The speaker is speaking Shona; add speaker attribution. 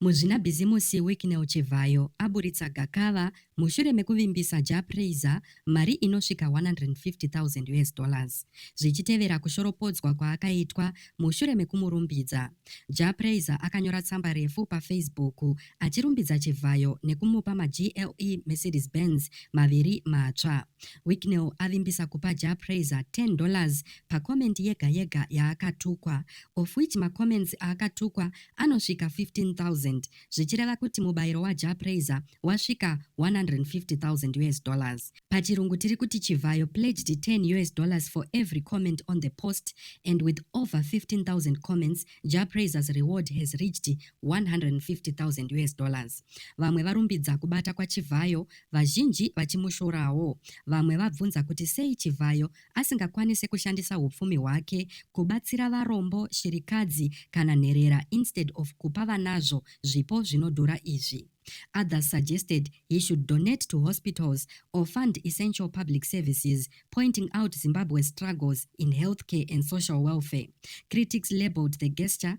Speaker 1: Muzvinabhizimusi Wicknell Chivhayo aburitsa gakava mushure mekuvimbisa Jah Prayzah mari inosvika 150,000 us dollars zvichitevera kushoropodzwa kwaakaitwa mushure mekumurumbidza. Jah Prayzah akanyora tsamba refu paFacebook achirumbidza Chivhayo nekumupa maGLE Mercedes Benz maviri matsva. Wicknell avimbisa kupa Jah Prayzah 10 dollars pacomment yega yega yaakatukwa of which macomments aakatukwa anosvika 15000 zvichireva kuti mubayiro waJah Prayzah wasvika 150,000 us dollars. Pachirungu tiri kuti Chivhayo pledged 10 us dollars for every comment on the post and with over 15,000 comments Jah Prayzah's reward has reached 150,000 us dollars. Vamwe varumbidza kubata kwaChivhayo, vazhinji vachimushorawo. Vamwe vabvunza kuti sei Chivhayo asingakwanise kushandisa hupfumi hwake kubatsira varombo, shirikadzi kana nherera instead of kupa vanazvo zvipo zvinodhura izvi. Others suggested he should donate to hospitals or fund essential public services, pointing out Zimbabwe's struggles in healthcare and social welfare. Critics labeled the gesture